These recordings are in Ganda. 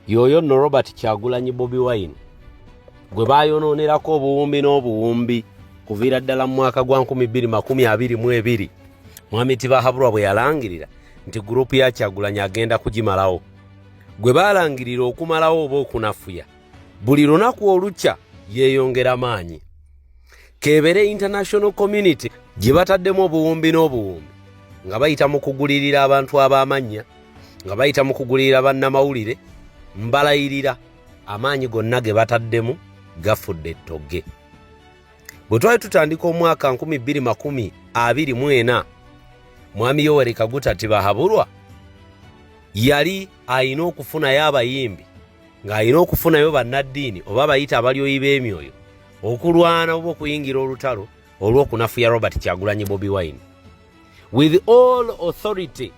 yoyo no robert kyagulanyi bobi wine gwe bayononerako obuwumbi n'obuwumbi kuviira ddala mu mwaka gwa 222 mwami tibahabulwa bwe yalangirira nti gurupu ya kyagulanyi agenda kugimalawo gwe baalangirira okumalawo oba okunafuya buli lunaku olukya yeeyongera maanyi keebere international community gye bataddemu obuwumbi n'obuwumbi nga bayita mu kugulirira abantu ab'amannya nga bayita mu kugulirira bannamawulire mbalayirira amaanyi gonna ge bataddemu gafudde ettogge bwe twali tutandika omwaka 224 mwami yoweri kaguta tibahabulwa yali alina okufunayo abayimbi ng'alina okufunayo bannaddiini oba abayita abalyoyi b'emyoyo okulwana oba okuyingira olutalo olw'okunafuya robert kyagulanyi bobi wine with all authority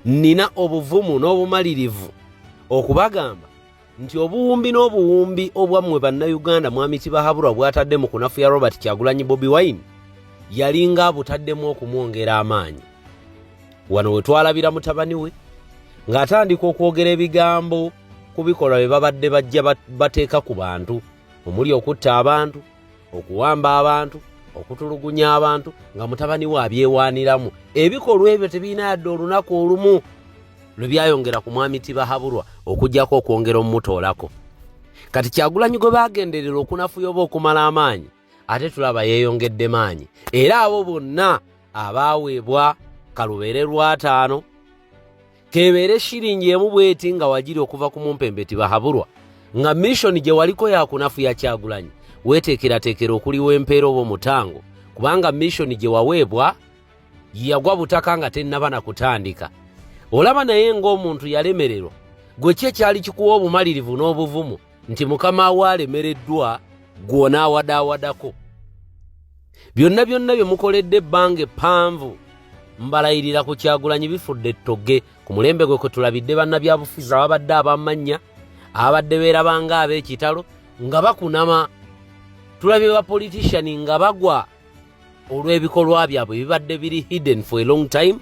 nina obuvumu n'obumalirivu okubagamba nti obuwumbi n'obuwumbi obwammwe bannayuganda mwami kibahaburwa bwatadde mu kunafuya robert kyagulanyi bobi wine yalinga abutaddemu okumwongera amaanyi wano we twalabira mutabani we ng'atandika okwogera ebigambo ku bikolwa bye babadde bajja bateeka ku bantu omuli okutta abantu okuwamba abantu okutulugunya abantu nga mutabani we abyewaaniramu ebikolwa ebyo tebirina yadde olunaku olumu lwe byayongera ku mwami tibahaburwa okugyako okwongera omumutoolako kati kyagulanyi gwe bagenderera okunafuya oba okumala amaanyi ate tulaba yeeyongedde maanyi era abo bonna abaaweebwa kalubeere lwataano kebeere shiringi emu bweti nga wajiri okuva ku mumpembe tibahaburwa nga mishoni gye waliko yakunafu yakyagulanyi weteekerateekera okuliwa empeera oba omutango kubanga mishoni gye waweebwa yagwa butaka nga tennaba na kutandika olaba naye ng'omuntu yalemererwa gwe ki ekyali kikuwa obumalirivu n'obuvumu nti mukama we alemereddwa gw'onaawadawadako byonna byonna bye mukoledde ebbanga eppanvu mbalayirira ku kyagulanyi bifudde ettogge ku mulembe gwe kwe tulabidde bannabyabufuzi ababadde abamannya ababadde beerabanga ab'ekitalo nga bakunama tulabye bapolitician nga bagwa olw'ebikolwa byabwe bibadde biri hidden for a long time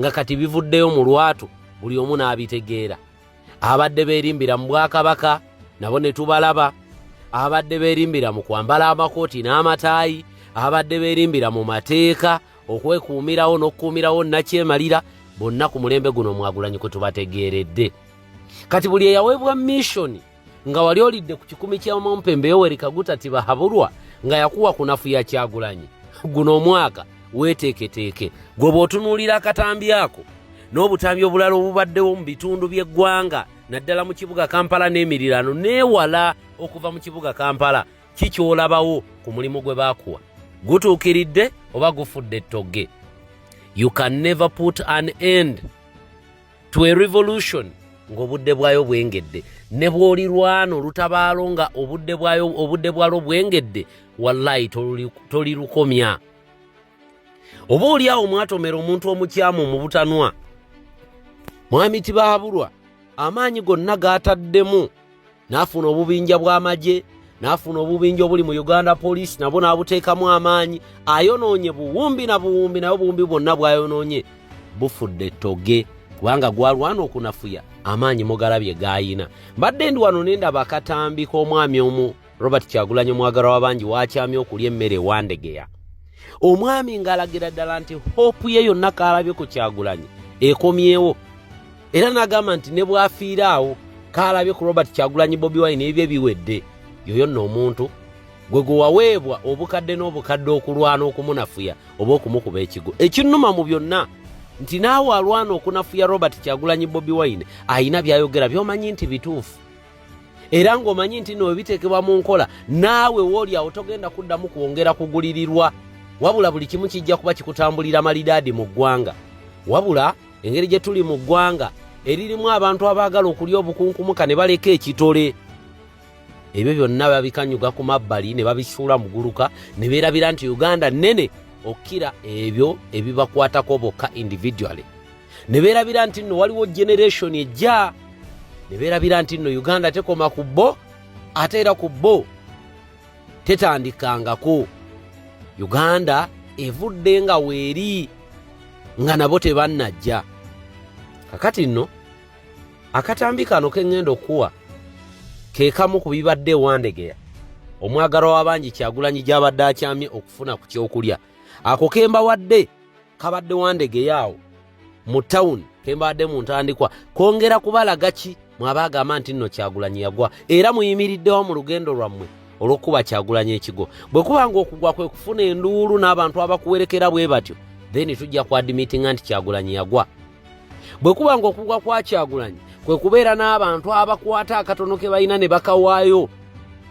nga kati bivuddeyo mu lwatu buli omu n'abitegeera abadde beerimbira mu bwakabaka nabo ne tubalaba abadde beerimbira mu kwambala amakooti n'amataayi abadde beerimbira mu mateeka okwekuumirawo n'okukuumirawo nakyemalira bonna ku mulembe guno mwagulanyi kwe tubategeeredde kati buli eyaweebwa missoni nga wali olidde ku kikumi ky'omumpembe yoweri kaguta tibahabulwa nga yakuwa kunafuya kyagulanyi guno omwaka weeteeketeeke gwe bw'otunuulira akatambi ako n'obutambi obulala obubaddewo mu bitundu by'eggwanga naddala mu kibuga kampala n'emiriraano neewala okuva mu kibuga kampala ki ky'olabawo ku mulimu gwe baakuwa gutuukiridde oba gufudde ettogge you can never put an end to a revolution ng'obudde bwayo bwengedde ne bw'olirwana olutabaalo nga obudde bwalwo bwengedde wallayi tolirukomya toli oba oli awo mwatomera omuntu omukyamu mu butanwa mwami tibaabulwa amaanyi gonna gaataddemu n'afuna obubinja bw'amagye n'afuna obubinja obuli mu uganda poliisi nabwo n'abuteekamu amaanyi ayonoonye buwumbi na buwumbi naye obuwumbi bwonna bwayonoonye bufudde toge kubanga gwalwana okunafuya amaanyi mugalabye gaayina mbadde ndi wano nendaba akatambi k'omwami omu robert kyagulanyi omwagalwa wabangi wakyamye okulya emmere ewandegeya omwami ng'alagira ddala nti hope ye yonna kaalabye ku kyagulanyi ekomyewo era n'agamba nti ne bwafiira awo kaalabye ku robert kyagulanyi bobi wine ebye biwedde yoyo nno omuntu gwe gwe waweebwa obukadde n'obukadde okulwana okumunafuya oba okumukuba ekigo ekinnuma mu byonna nti naawe alwana okunafuya robert kyagulanyi bobi wine alina byayogera byomanyi nti bituufu era ng'omanyi nti no webiteekebwa mu nkola naawe wooli awo togenda kuddamu kwongera kugulirirwa wabula buli kimu kijja kuba kikutambulira malidaadi mu ggwanga wabula engeri gye tuli mu ggwanga eririmu abantu abaagala okulya obukunkumuka ne baleka ekitole ebyo byonna babikanyuga ku mabbali ne babisuula muguluka ne beerabira nti uganda nnene okukira ebyo ebibakwatako bokka individually ne beerabira nti nno waliwo generation ejja ne beerabira nti nno uganda tekoma ku bo ate era ku bo tetandikangako uganda evudde nga weeri nga nabo tebannajja kakati nno akatambi kano keŋŋenda okuwa ke kamu ku bibadde ewandegeya omwagalwa w'abangi kyagulanyi gy'abadde akyamye okufuna ku kyokulya ako kembawadde kabadde wandegeyo awo mu tawuni kembaadde mu ntandikwa kwongera kubalaga ki mwaba agamba nti nno kyagulanyi yagwa era muyimiriddewo mu lugendo lwammwe olw'okukuba kyagulanyi ekigo bwe kuba nga okugwa kwe kufuna enduulu n'abantu abakuwerekera bwe batyo then tujja ku admitinga nti kyagulanyi yagwa bwe kuba nga okugwa kwa kyagulanyi kwe kubeera n'abantu abakwata akatono ke balina ne bakawaayo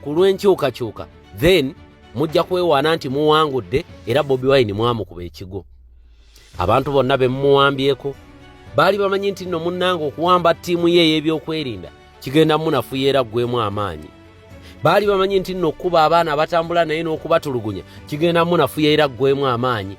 ku lw'enkyukakyuka then mujja kwewaana nti muwangudde era bobi wine mwamukuba ekigo abantu bonna be mumuwambyeko baali bamanyi nti nno munnanga okuwamba ttiimu ye ey'ebyokwerinda kigenda munafuya era ggwemu amaanyi baali bamanyi nti nno okukuba abaana abatambula naye n'okubatulugunya kigenda munafuya era ggwemu amaanyi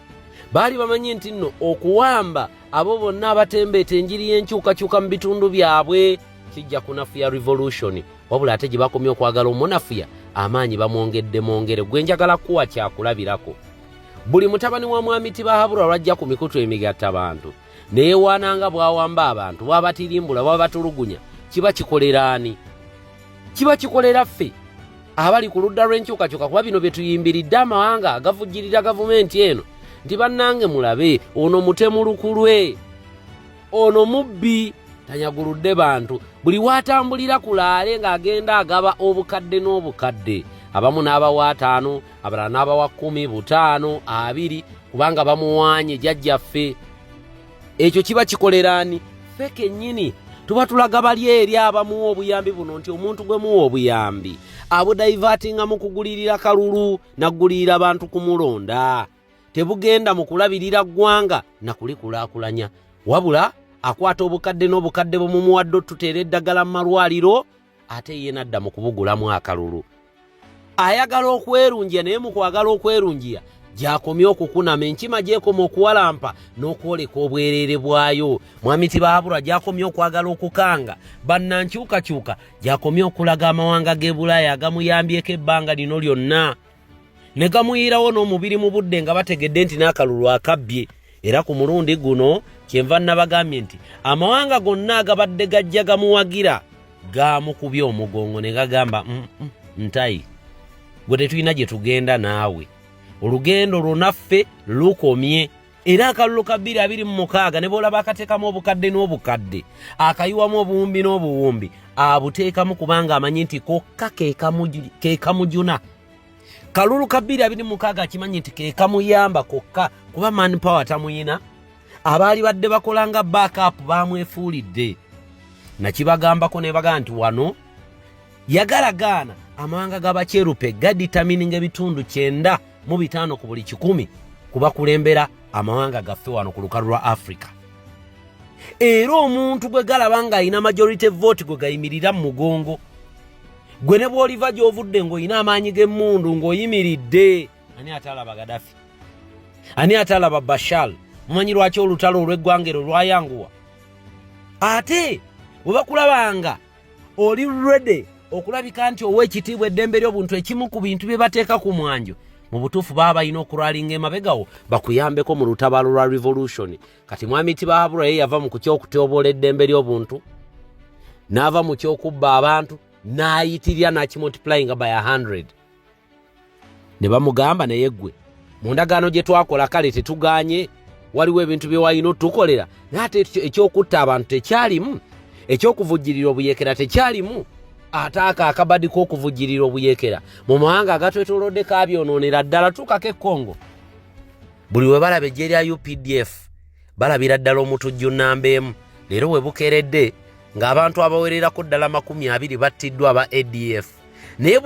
baali bamanyi nti nno okuwamba abo bonna abatembeeta enjiri y'enkyukakyuka mu bitundu byabwe kijja kunafuya revolution wabula ate gye bakomye okwagala omunafuya amaanyi bamwongedde mwongere gwe njagala kuwa kyakulabirako buli mutabani wa mwami tibahabura lwajja ku mikutu emigatta bantu neyewaana nga bwawamba abantu bwabatirimbula bwabatulugunya kiba kikolera ani kiba kikolera ffe abali ku ludda lw'enkyukakyuka kuba bino bye tuyimbiridde amawanga agavujjirira gavumenti eno nti bannange mulabe ono mutemu lukulwe ono mubbi tanyaguludde bantu buli waatambulira ku laale ng'agenda agaba obukadde n'obukadde abamu n'abawa ataano abalala n'abawa kkumi butaano abiri kubanga bamuwaanye jajjaffe ekyo kiba kikoleraani ffe kennyini tuba tulaga bali eri abamuwa obuyambi buno nti omuntu gwe muwa obuyambi abudaivatinga mu kugulirira kalulu naggulirira bantu kumulonda tebugenda mu kulabirira ggwanga na kulikulaakulanya wabula akwata obukadde n'obukadde bumumuwadde otuteera eddagala mu malwaliro ate ye nadda mu kubugulamu akalulu ayagala okwerungiya naye mu kwagala okwerungiya gyakomye okukunama enkima gyekoma okuwalampa n'okwoleka obwereere bwayo mwami tibaabura gyakomye okwagala okukanga bannankyukakyuka gyakomye okulaga amawanga g'ebulaaya agamuyambyeko ebbanga lino lyonna ne gamuyiirawo n'omubiri mu budde nga bategedde nti n'akalulu akabbye era ku mulundi guno kyenva nabagambye nti amawanga gonna agabadde gajja gamuwagira gaamukubye omugongo ne gagamba mm, mm, ntayi gwe tetulina gye tugenda naawe olugendo lwonaffe lukomye era akalulu ka bbiri abiri mu mukaaga ne bwolaba akateekamu obukadde n'obukadde akayiwamu obuwumbi n'obuwumbi abuteekamu kubanga amanyi nti kokka kekamujuna kalulu ka bbiri abiri mukaaga akimanyi nti kekamuyamba kokka kuba man power tamuyina abaali badde bakola nga backup bamwefuulidde nakibagambako nebagaa nti wano yagala gaana amawanga gabakyerupe gaditamininga ebitundu kyenda mu bitaano ku buli kikumi ku bakulembera amawanga gaffe wano ku lukalu lwa africa era omuntu gwe galaba ng'alina majority vote gwe gayimirira mu mugongo gwe ne bw'oliva gy'ovudde ng'olina amaanyi g'emmundu ng'oyimiridde ani atalaba gadafi ani atalaba bashal mumanyi lwaki olutalo olw'eggwanga ero lwayanguwa ate bwe bakulabanga oli ready okulabika nti ow'ekitiibwa eddembe ly'obuntu ekimu ku bintu bye bateeka ku mwanjo mu butuufu baba balina okulwalinga emabegawo bakuyambeko mu lutabaalo lwa revolution kati mwami tibahabura ye yava mu kukyokutyoboola eddembe ly'obuntu n'ava mu kyokubba abantu n'ayitirira n'akimultiplyinga by 100 ne bamugamba naye ggwe mu ndagaano gye twakola kale tetugaanye waliwo ebintu bye walina otukolera naye ate ekyokutta abantu tekyalimu ekyokuvujjirira obuyeekera tekyalimu ate ako akabadi k'okuvujjirira obuyeekera mu mawanga agatwetolodde kabyonoonera ddala tuukako ekongo buli we balaba ejje lya updf balabira ddala omutujju nnamba emu leero we bukeeredde ng'abantu abawererako ddala makumi abiri battiddwa aba adf naye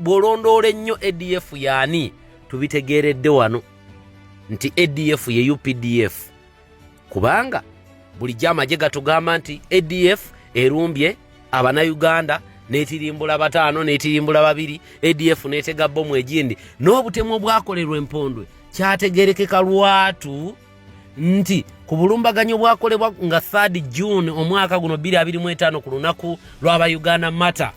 bw'olondoola ennyo adf yaani tubitegeeredde wano nti adf ye updf kubanga bulijjo amagye gatugamba nti adf erumbye abanayuganda netirimbula bataano netirimbula babiri adf netega bomu egindi n'obutemu obwakolerwa empondwe kyategerekeka lwatu nti ku bulumbaganyi obwakolebwa nga 3 June omwaka guno 2025 ku lunaku lw'aba Uganda Matter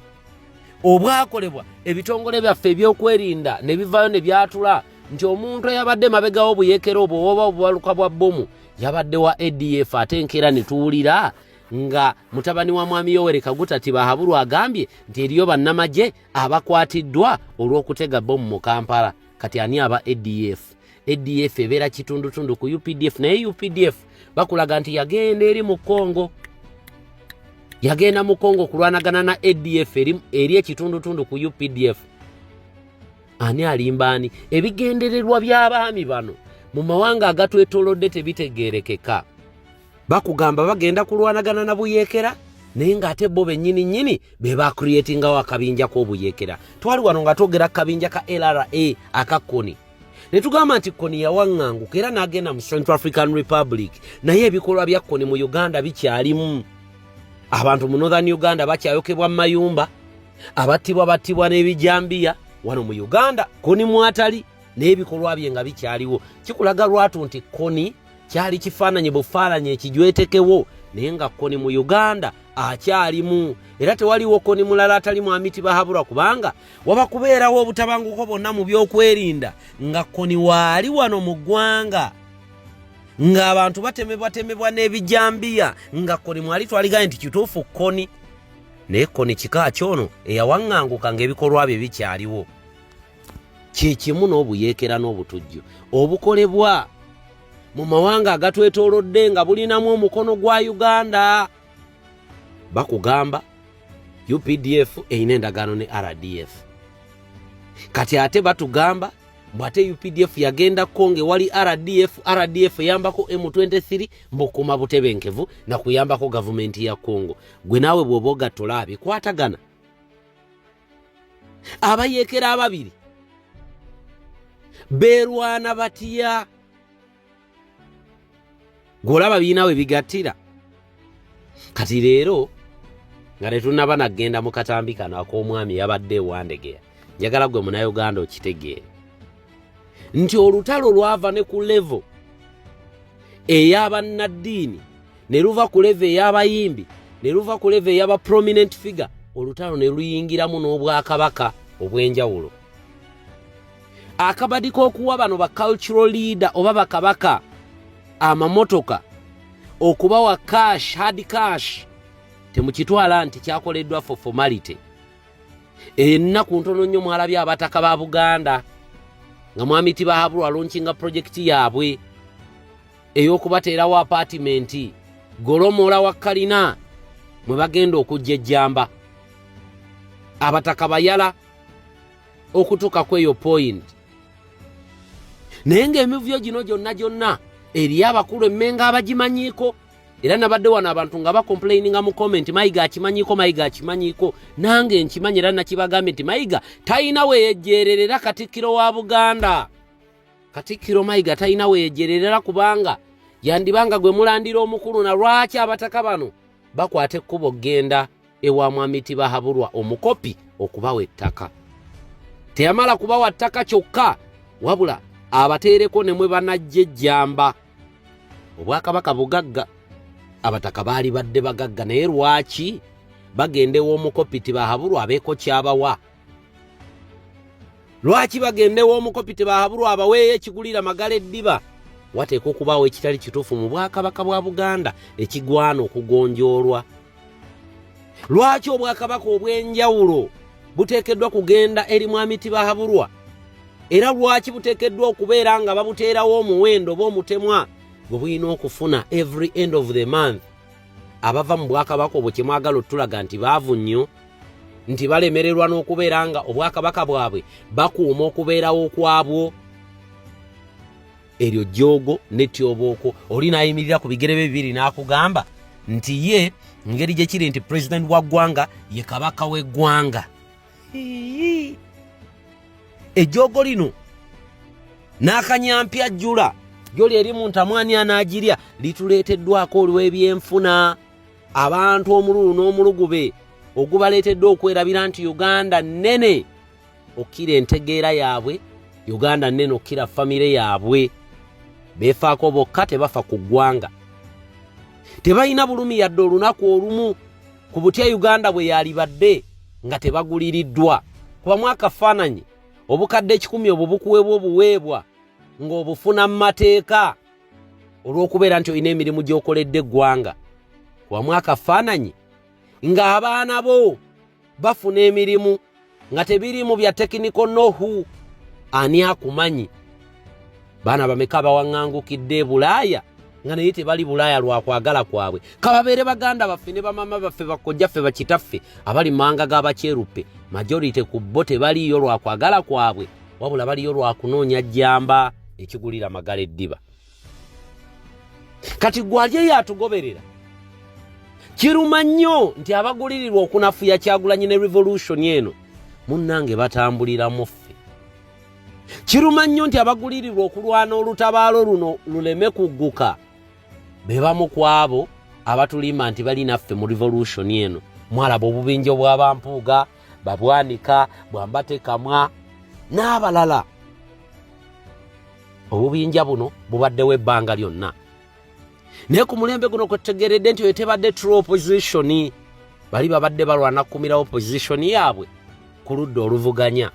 obwakolebwa ebitongole byaffe ebyokwerinda ne bivaayo ne byatula nti omuntu eyabadde mabegawo obuyekera obwo oba obubaluka bwa bbomu yabadde wa adf ate enkeera ne tuwulira nga mutabani wa mwami yoweri kaguta tibahabulwa agambye nti eriyo bannamagye abakwatiddwa olw'okutega bbomu mu kampala kati ani aba adf adf ebeera kitundutundu ku updf naye updf bakulaga nti yagenda eri mu congo yagenda mu congo okulwanagana na adf eri ekitundutundu ku updf ani alimba ani ebigendererwa by'abaami bano mu mawanga agatwetolodde tebitegeerekeka bakugamba bagenda kulwanagana na buyekera naye ng'ate bo bennyini nnyini be bacreatingawo akabinja k'obuyekera twali wano nga twogera kabinja ka lra aka koni ne tugamba nti koni yawaŋŋanguka era n'agenda mu central african republic naye ebikolwa bya koni mu uganda bikyalimu abantu mu northern uganda bakyayokebwa mu mayumba abattibwa battibwa n'ebijambiya wano mu uganda koni mwatali naye ebikolwa bye nga bikyaliwo kikulaga lwatu nti koni kyali kifaananyi bufaananyi ekijwetekewo naye nga koni mu uganda akyalimu era tewaliwo koni mulala atali mwami tibahabura kubanga waba kubeerawo obutabanguko bonna mu byokwerinda nga koni waali wano mu ggwanga ng'abantu batemebwatemebwa n'ebijambiya nga koni mwali twaligaye nti kituufu koni naye koni kika kyono eyawaŋŋanguka ng'ebikolwa bye bikyaliwo kye kimu n'obuyeekera n'obutujju obukolebwa mu mawanga agatwetoolodde nga bulinamu omukono gwa uganda bakugamba updf erina endagaano ne rdf kati ate batugamba bwate updf yagendako ngaewali rdf rdf eyambako m23 mbukuma butebenkevu nakuyambako gavumenti ya congo gwe naawe bwoba ogattola abikwatagana abayekera ababiri beerwana batya gweolaba biina we bigattira kati leero nga tetunaba nagenda mu katambi kano ak'omwami yabadde ewandegeya njagala gwe munauganda okitegeere nti olutalo lwava ne ku levo eyabannaddiini ne luva ku leva ey'abayimbi ne luva ku leva ey'aba prominent figure olutalo ne luyingiramu n'obwakabaka obw'enjawulo akabadi k'okuwa bano ba cultural leader oba bakabaka amamotoka okubawa cash hard cash temukitwala nti kyakoleddwa for formality ennaku ntono nnyo mwalabye abataka ba buganda nga mwamiti bahabulwa lonkinga projekiti yaabwe ey'okubateerawo apaatimenti golomoola wa kalina mwe bagenda okujja ejjamba abataka bayala okutuuka ku eyo poyinti naye ng'emivuyo gino gyonna gyonna eriyo abakulu emmenga abagimanyiiko era nabadde wano abantu nga bakomplaininga mu comment mayiga akimanyiko mayiga akimanyiko nange nkimanyi era nakibagambye nti mayiga talina weyejjeerera era katikkiro wa buganda Katikkiro Mayiga talina weyejererera kubanga yandibanga gwe mulandira omukulu na lwaki abataka bano bakwata ekkubo okugenda ewa mwami Tibahaburwa omukopi okubawa ettaka. Teyamala kubawa ttaka kyokka wabula abateereko ne mwe banajja ejjamba. Obwakabaka bugagga abataka baali badde bagagga naye lwaki bagenda ew'omukopi Tibahaburwa abeeko kyabawa lwaki bagendewo omukopi tebahabulwa abaweeyo ekigulira magala eddiba wateekwa okubaawo ekitali kituufu mu bwakabaka bwa buganda ekigwana okugonjoolwa lwaki obwakabaka obw'enjawulo buteekeddwa kugenda eri mwami tibahabulwa era lwaki buteekeddwa okubeera nga babuteerawo omuwendo oba omutemwa gwe bulina okufuna every end of the month abava mu bwakabaka obwo kyemwagala otulaga nti baavu nnyo nti balemererwa n'okubeera nga obwakabaka bwabwe bakuuma okubeerawo kwabwo eryo jjoogo netyobooko oli nayimirira ku bigere bye bibiri n'akugamba nti ye ngeri gye kiri nti pulezidenti wa ggwanga ye kabaka w'eggwanga ejjoogo lino n'akanyampya jjula joli eri mu ntamwani anaagirya lituleeteddwako olw'ebyenfuna abantu omululu n'omulugube ogubaleetedde okwerabira nti uganda nnene okkira entegeera yaabwe uganda nnene okkira famire yaabwe beefaako bokka tebafa ku ggwanga tebalina bulumi yadde olunaku olumu ku butya uganda bwe yalibadde nga tebaguliriddwa kuba mwakafaananyi obukadde ekikumi obwo bukuweebwa obuweebwa ng'obufuna mu mateeka olw'okubeera nti olina emirimu gy'okoledde eggwanga wamu akafaananyi ng'abaana bo bafuna emirimu nga tebiriimu bya tekiniko nohu ani akumanyi baana bameka bawaŋŋangukidde ebulaaya nga naye tebali bulaaya lwa kwagala kwabwe kababeere baganda baffe ne bamama baffe bakkojjaffe bakitaffe abali manga ga bakyeruppe majority ku bo tebaliiyo lwa kwagala kwabwe wabula baliyo lwakunoonya jjamba ekigulira magala eddiba kati gwali eyo atugoberera kiruma nnyo nti abagulirirwa okunafuya kyagulanyi ne revolution eno munnange batambuliramu ffe kiruma nnyo nti abagulirirwa okulwana olutabaalo luno luleme kugguka be bamu ku abo abatulimba nti bali naffe mu revolution eno mwalaba obubinja obwabampuuga babwanika bwambate kamwa n'abalala obubinja buno bubaddewo ebbanga lyonna naye ku mulembe guno kwetutegeredde nti oyo tebadde true opposition bali babadde balwana kukumira opposition yaabwe ku ludda oluvuganya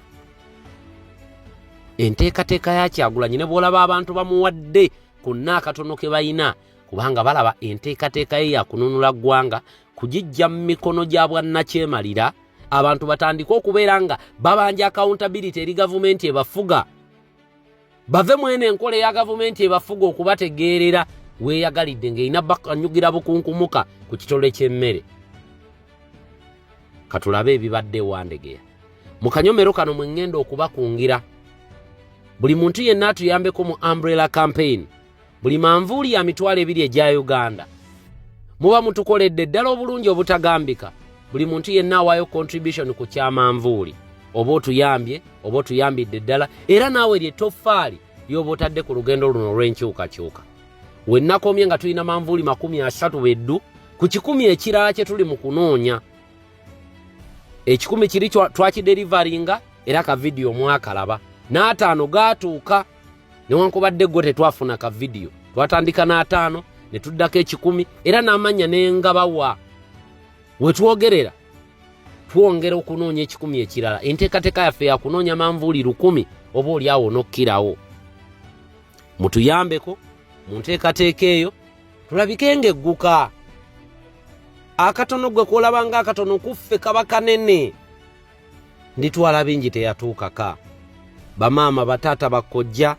enteekateeka ya kyagulanyi ne bwolaba abantu bamuwadde ku nna akatono ke balina kubanga balaba enteekateeka ye yakununula ggwanga kugijja mu mikono gya bwannakyemalira abantu batandike okubeera nga babanja accountability eri gavumenti ebafuga bave mwene enkola eya gavumenti ebafuga okubategeerera weeyagalidde ng'erina bakanyugira bukunkumuka ku kitole ky'emmere katulabe ebibadde ewandegeya mu kanyomero kano mwe ŋŋenda okubakungira buli muntu yenna atuyambeko mu umbrella campaign buli manvuuli ya mitwalo ebiri egya uganda muba mutukoledde ddala obulungi obutagambika buli muntu yenna awaayo contribution ku kyamanvuuli oba otuyambye oba otuyambidde ddala era naawe lye toffaali ly'oba otadde ku lugendo luno olw'enkyukakyuka wennakomye nga tulina manvuuli makumi asatu beddu ku kikumi ekirala kye tuli mu kunoonya ekikumi kiri twakiderivaringa era ka vidiyo mwakalaba n'ataano gaatuuka newankubadde gwo tetwafuna ka vidiyo twatandika n'ataano ne tuddako ekikumi era n'amannya nengabawa wetwogerera twongera okunoonya ekikumi ekirala enteekateeka yaffe yakunoonya manvuuli lukumi oba olyawo n'okkirawo mutuyambeko mu nteekateeka eyo tulabike nga egguka akatono gwe kuolabanga akatono kuffe kaba kanene nditwala bingi teyatuukaka bamaama bataata bakkojja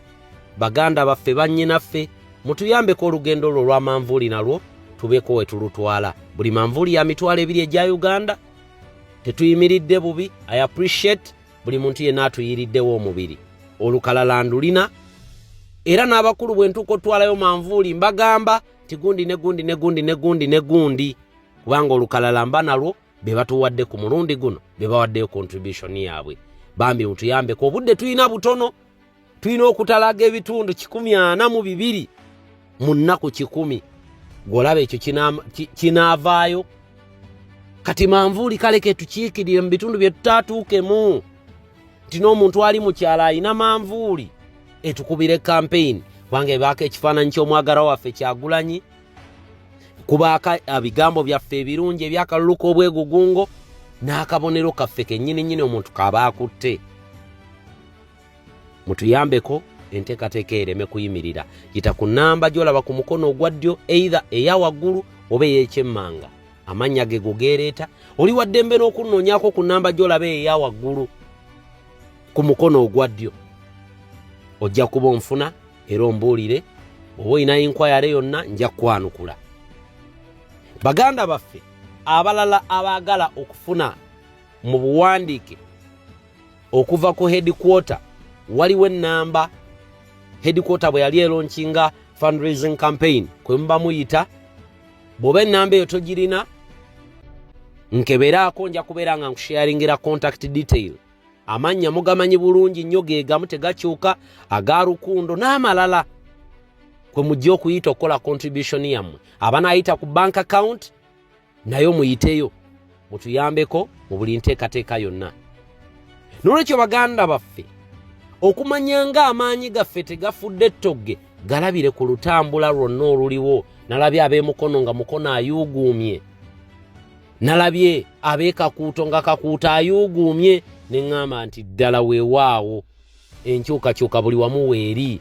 baganda baffe bannyinaffe mutuyambeko olugendo lwo olwa manvuuli nalwo tubeeko we tulutwala buli manvuuli ya mitwalo ebiri egya uganda tetuyimiridde bubi i appreciate buli muntu yenna atuyiriddewo omubiri olukalala ndulina era n'abakulu bwe ntuuka otwalayo manvuuli mbagamba tigundi negundi negundi negundi negundi kubanga olukalala mba nalwo be batuwadde ku mulundi guno be bawaddeyo contribution yaabwe bambi mutuyambeko obudde tulina butono tulina okutalaga ebitundu kikumi ana mu bibiri mu nnaku kikumi gwolaba ekyo kinaavaayo kati manvuuli kale ketukiikirire mu bitundu bye tutaatuukemu nti n'omuntu ali mu kyalo alina manvuuli etukubire kampeyini kubanga ebaako ekifaananyi ky'omwagala waffe kyagulanyi kubaako ebigambo byaffe ebirungi ebyakalulu k'obwegugungo n'akabonero kaffe kennyini nnyini omuntu kaba akutte mutuyambeko enteekateeka ereme kuyimirira yita ku nnamba gy'olaba ku mukono ogwa ddyo eitha eya waggulu oba ey'ekyemmanga amannya ge gugeereeta oli waddembe n'okunnoonyako ku nnamba gy'olaba eya waggulu ku mukono ogwa ddyo ojja kuba onfuna era ombuulire oba olina inkwayare yonna nja kwanukula baganda baffe abalala abaagala okufuna mu buwandiike okuva ku hedikwota waliwo ennamba hedikwota bwe yali elonkinga fundraising campaign kwe muba muyita bw'oba ennamba eyo togirina nkeberaako nja kubeera nga nkusharingira contact detail amannya mugamanyi bulungi nnyo ge gamu tegakyuka aga rukundo n'amalala kwe mujja okuyita okukola contribution yammwe abanaayita ku bank account nayo muyiteyo mutuyambeko mu buli nteekateeka yonna nolwekyo baganda baffe okumanya nga amaanyi gaffe tegafudde ettogge galabire ku lutambula lwonna oluliwo nalabye ab'emukono nga mukono ayuuguumye nalabye abekakuuto nga kakuuto ayuuguumye ne ŋŋamba nti ddala weewaawo enkyukakyuka buli wamu weeri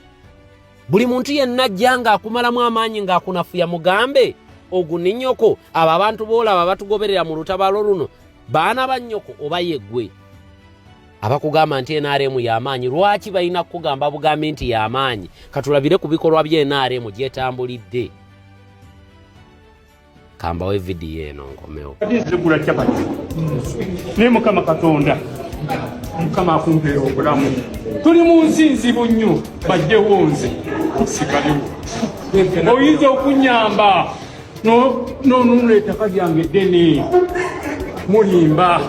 buli muntu yenna ajja ng'akumalamu amaanyi ng'akunafuya mugambe oguninyoko abo abantu boolaba batugoberera mu lutabaalo luno baana ba nnyoko oba yeggwe abakugamba nti nrm y'amaanyi lwaki balina kukugamba bugambi nti y'amaanyi katulabire ku bikolwa bya nrm gyetambulidde kambawe vidiyo eno nkomewo zigula capati naye mukama katonda mukama akumpeera obulamu tuli mu nsi nzibu nnyo bajjewo nze sikaliwo oyinza okunyamba nonunula ettaka lyange ddene mulimba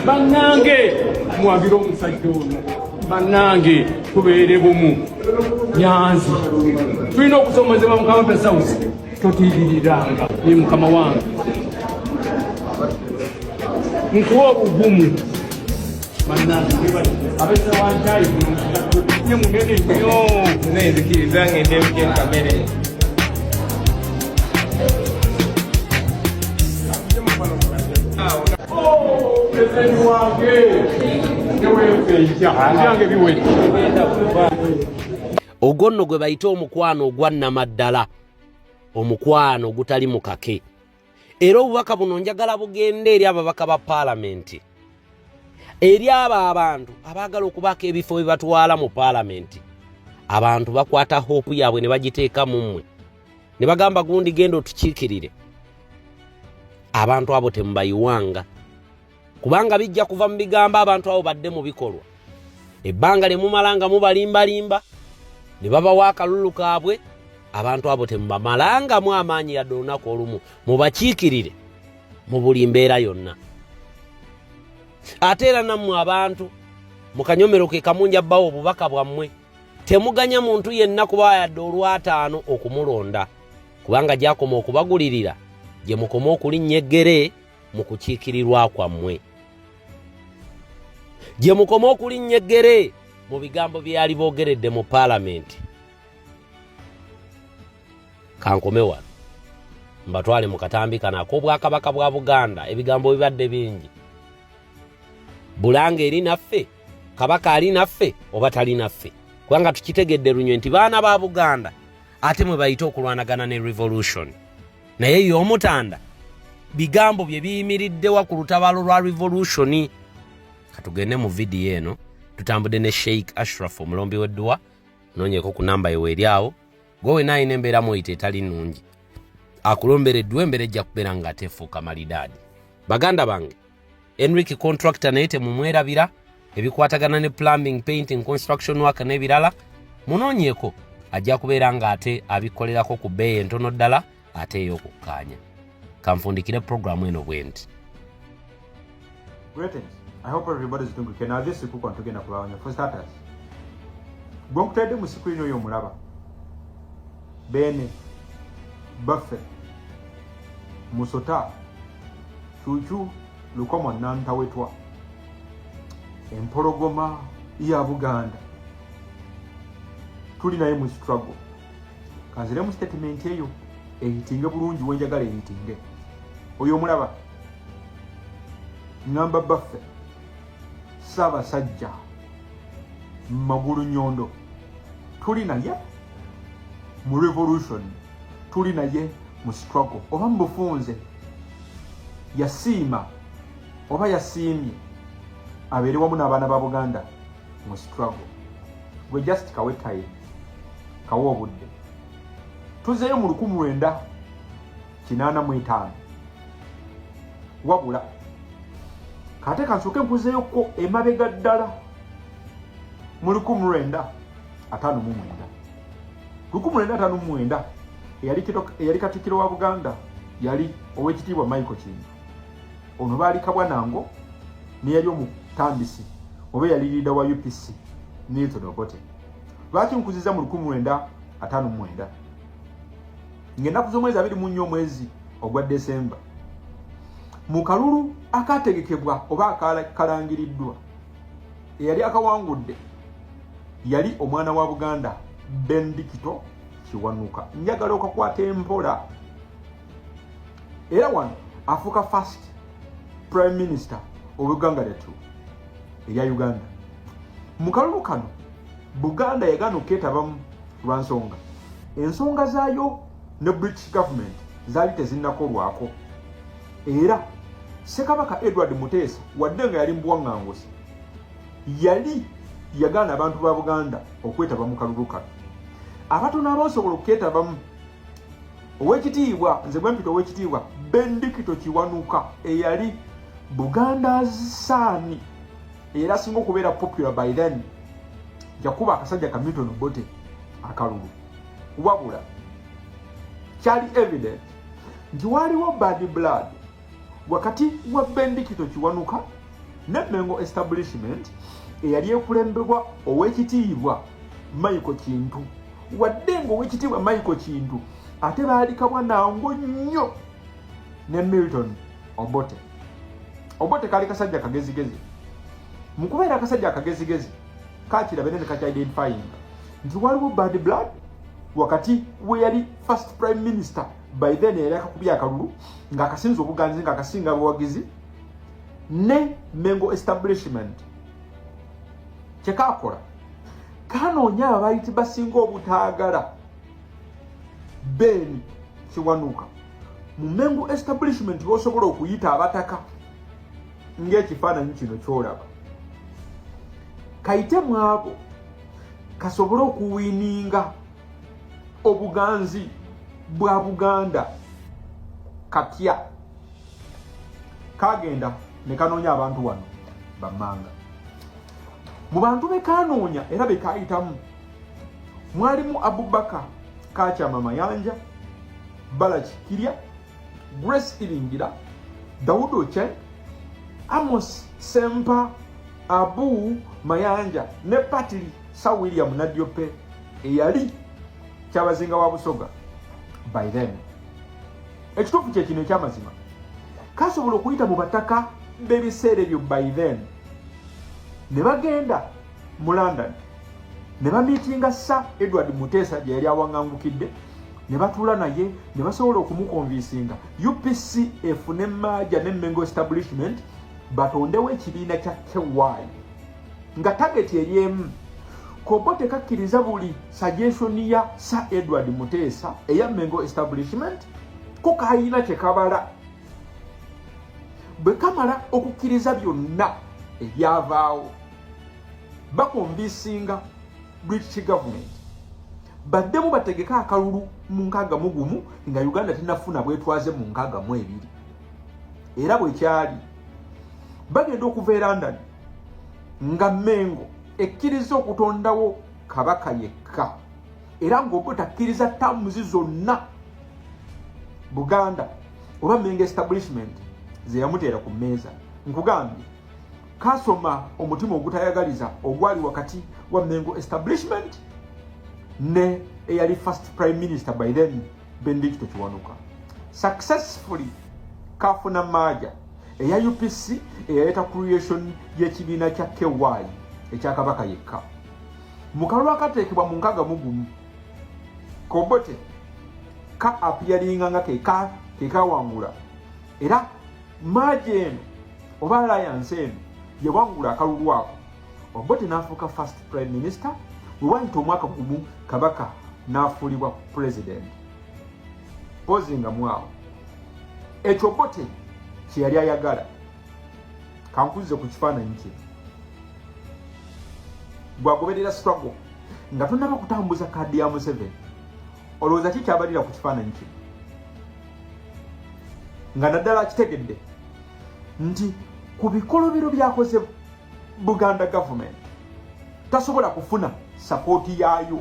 bannange mwabire omusajja ono bannange tubeere bumu nyanzi tulina okusomozebwa mukama pesausi totiiriranga ye mukama wange nkuwa obugumu ogwo nno gwe bayita omukwano ogwannamaddala omukwano ogutali mu kake era obubaka buno njagala bugenda eri ababaka ba paalamenti eri abo abantu abaagala okubaako ebifo bye batwala mu paalamenti abantu bakwata hoopu yaabwe ne bagiteeka mu mmwe ne bagamba gundi genda otukiikirire abantu abo temubayiwanga kubanga bijja kuva mu bigambo abantu abo badde mu bikolwa ebbanga lye mumala nga mubalimbalimba ne babawa akalulu kaabwe abantu abo temubamalangamu amaanyi yadde olunaku olumu mubakiikirire mu buli mbeera yonna ate era nammwe abantu mu kanyomero ke kamunja bbawo obubaka bwammwe temuganya muntu yenna kuba yadde olwataano okumulonda kubanga gyakoma okubagulirira gye mukoma okulinnya eggere mu kukiikirirwa kwammwe gye mukoma okulinnya eggere mu bigambo bye yali boogeredde mu paalamenti kankome wano mbatwale mu katambi kano ak'obwakabaka bwa buganda ebigambo bibadde bingi bulanga eri naffe kabaka ali naffe oba tali naffe kubanga tukitegedde lunywe nti baana ba buganda ate mwe bayite okulwanagana ne revolution naye ye omutanda bigambo bye biyimiriddewa ku lutabaalo lwa revolution katugende mu vidiyo eno tutambudde ne sheik ashraf omulombi wedduwa nonyeko ku namba yewe eri awo gwe wena alina embeera mwoyita etali nungi akulombera edduwa embeera ejja kubeera nga atefuuka malidaadi baganda bange Enric contractor naye temumwerabira ebikwatagana ne plumbing painting construction work n'ebirala munoonyeeko ajja kubeera ng'ate abikolerako ku bbeeyi entono ddala ate ey'okukkaanya kanfundikire puroguramu eno bwe nti gwe nkutadde mu sikulini oyo omulaba beene baffe musota kyukyu lukomwa nantawetwa empologoma ya buganda tuli naye mu struggle kanzire mu statement eyo eyitinge bulungi wenjagala eyitinge oyo omulaba ngamba baffe ssaabasajja magulu nyondo tuli naye mu revolution tuli naye mu struggle oba mu bufunze yasiima oba yasiimye abeere wamu n'abaana ba buganda mu struggle gwe just kawe time kawe obudde tuzeeyo mu lukumu lwenda kinaana mu etaano wabula kate kansooke nkuzeeyokko emabega ddala mu lukumu lwenda ataano mu mwenda lukumulenda tano mwenda eyali kito eyali katikiro wa Buganda yali owekitiibwa Michael Kintu ono baali kabwa nango ne yali omutandisi oba yali leader wa UPC Milton Obote lwaki nkuziza mu lukumulenda atano mwenda ngenda kuzomwezi abiri mu nnyo omwezi ogwa December mu kalulu akategekebwa oba akalangiriddwa eyali akawangudde yali omwana wa buganda bendikito kiwanuka njagala okakwata empola era wano afuuka first prime minister obuganga lyatu erya uganda mu kalulu kano buganda yagaana okuketabamu lwa nsonga ensonga zaayo ne british government zaali tezinnakolwako era ssekabaka edward muteesa wadde nga yali mubuwaŋŋanguzi yali yagaana abantu ba buganda okwetaba mu kalulu kano abatono abasobola okuketabamu owekitiibwa nze bwempita owekitiibwa bendikito kiwanuka eyali buganda saani era asinga okubeera popular by then jakuba akasajja ka milton bote akalulu wabula kyali evidence nti waaliwo bad blood wakati wa bendikito kiwanuka ne mengo establishment eyali ekulembebwa owekitiibwa maiko kintu wadde nga owekitiibwa maiko kintu ate baalikabwa nangu nnyo ne milton obote obote kaali kasajja kagezigezi mu kubeera akasajja akagezigezi kakirabe ne nekakyidentifyinga nti waliwo bad blood wakati weyali first prime minister by then yali akakubya akalulu nga akasinza obuganzi nga akasinga abawagizi ne mengo establishment kyekakola kanoonya ababayiti basinga obutaagala ben kiwanuka mu mengo establishment bosobola okuyita abataka ngaekifaananyi kino kyolaba kayite mwabo kasobole okuwininga obuganzi bwa buganda katya kagenda nekanoonya abantu wano bamanga mu bantu bekanoonya era bekayitamu mwalimu abubaka kakyama mayanja balaki kirya grace iringira dawudi ochen amos sempa abu mayanja ne patili sa william nadiope eyali kyabazinga wa busoga by then ekituufu kye kino ekyamazima kasobola okuyita mu bataka b'ebiseera ebyo by then ne bagenda mu london ne bamiitinga sa edward muteesa gye yali awaŋangukidde ne batuula naye ne basobola okumukonvinsinga upc efune maaja ne mengo establishment batondewo ekibiina kya ky nga tageti eri emu kobo tekakkiriza buli suggestion ya sir edward muteesa eya mengo establishment ko kalina kyekabala bwe kamala okukkiriza byonna ebyavaawo bakombisinga british government baddemu bategeke akalulu mu nkaaga mu gumu nga uganda tenafuna bwetwaze mu nkaaga mu ebiri era bwekyali bagenda okuva e london nga mengo ekkiriza okutondawo kabaka yekka era ngaoba takkiriza tamuzi zonna buganda oba mengo establishment zeyamuteera ku mmeeza nkugambye kasoma omutima ogutayagaliza ogwali wakati wa mengo establishment ne eyali first prime minister by then Benedicto Kiwanuka successfully kafuna maaja eya UPC eyaleeta creation y'ekibiina kya KY ekya Kabaka yekka mu kalulu akateekebwa mu nkaga mugumu Kobote ka apiyalinga nga keka kekawangula era maaja eno oba alliance eno yawangula akalulu ako Obote n'afuuka first prime minister bwe waayita omwaka gumu kabaka n'afuulibwa president mpozi nga mwawo ekyo Obote kye yali ayagala kankuzze ku kifaananyi kye gwagoberera struggle nga tonaba kutambuza kaadi ya museveni olowooza ki kyabalira ku kifaananyi kye nga naddala akitegedde nti ku bikolobero byakozebwa buganda government tasobola kufuna sapooti yaayo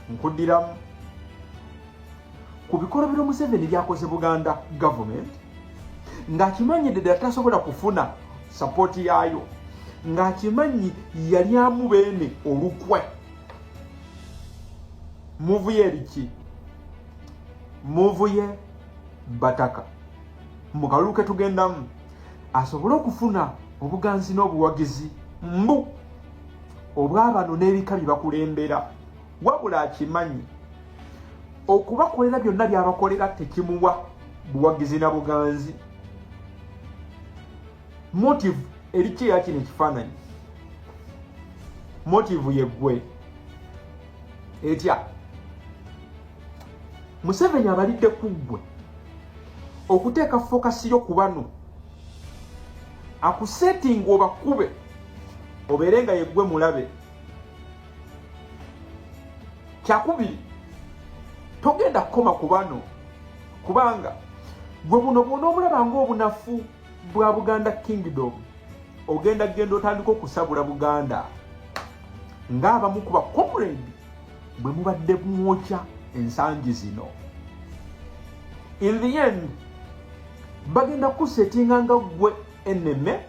nkuddiramu ku bikolobero museveni byakoze buganda government ng'akimanyidde ddala tasobola kufuna sapooti yaayo ng'akimanyi yalyamu beene olukwe muvuye eriki muvuye bataka mu kalulu ke tugendamu asobole okufuna obuganzi n'obuwagizi mbu obwabano n'ebika bye bakulembera wabula akimanyi okubakolera byonna byabakolera tekimuwa buwagizi na buganzi motive erikyo yakino ekifaananyi motive yeggwe etya museveni abalidde kuggwe okuteeka fokasi yo ku bano akusetinga obakube obeere nga yeggwe mulabe kyakubiri togenda kukoma ku bano kubanga gwe buno bwona obulaba ngaobunafu bwa buganda kingdom ogenda genda otandika okusabula buganda ngaabamu kuba comrade bwe mubadde mwokya ensangi zino in the end bagenda kusetinga nga gwe eneme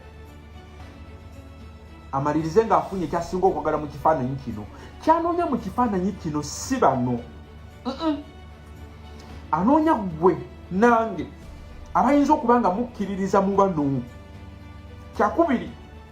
amalirize ng'afunye kyasinga okwagala mu kifaananyi kino kyanoonya mu kifaananyi kino si bano anoonya gwe nange abayinza okuba nga mukkiririza mu bano kyakubiri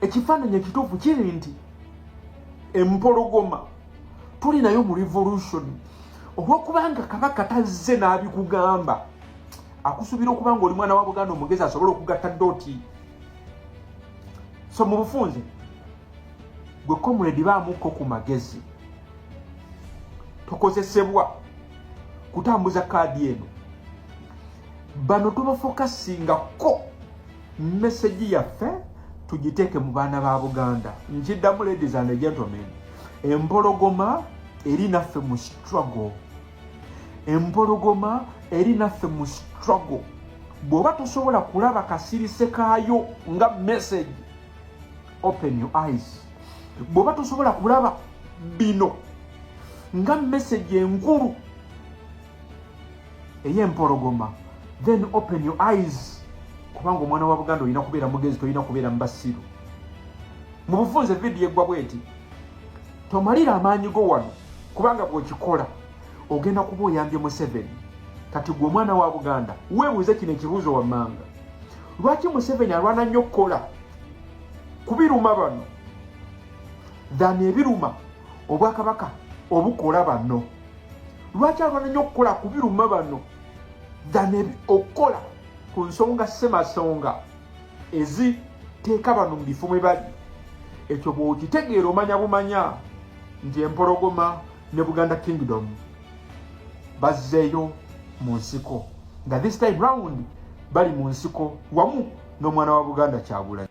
ekifaananyi ekituufu kiri nti empologoma tuli nayo mu revolution olwokubanga kabaka tazze n'abikugamba akusuubira okuba nga oli mwana wa buganda omugezi asobole okugatta doti so mu bufunze gwe comrade baamukko ku magezi tokozesebwa kutambuza kaadi eno bano tubafokasinga ko message yaffe tugiteeke mu baana ba buganda nkiddamu ladies and gentlemen empologoma eri naffe mu struggle empologoma eri naffe mu struggle bw'oba tosobola kulaba kasirise kaayo nga message open your eyes bw'oba tosobola kulaba bino nga message enkulu eyempologoma then open your eyes kubanga omwana wa buganda olina kubeera mugezi tolina kubeera mubasiru mu bufunze vidiyo eggwa bweti tomalira amaanyi go wano kubanga bwokikola ogenda kuba oyambye museveni kati gwe omwana wa buganda weebuuze kino ekibuuzo wammanga lwaki museveni alwana nnyo okukola kubiruma bano than ebiruma obwakabaka obukola bano lwaki alwana nnyo okukola kubiruma bano than okukola ku nsonga semasonga eziteeka bano mu bifo mwe bali ekyo bwokitegeera omanya bumanya nti empologoma ne buganda kingdom bazzeeyo mu nsiko nga this time round bali mu nsiko wamu n'omwana wa buganda kyagulanyi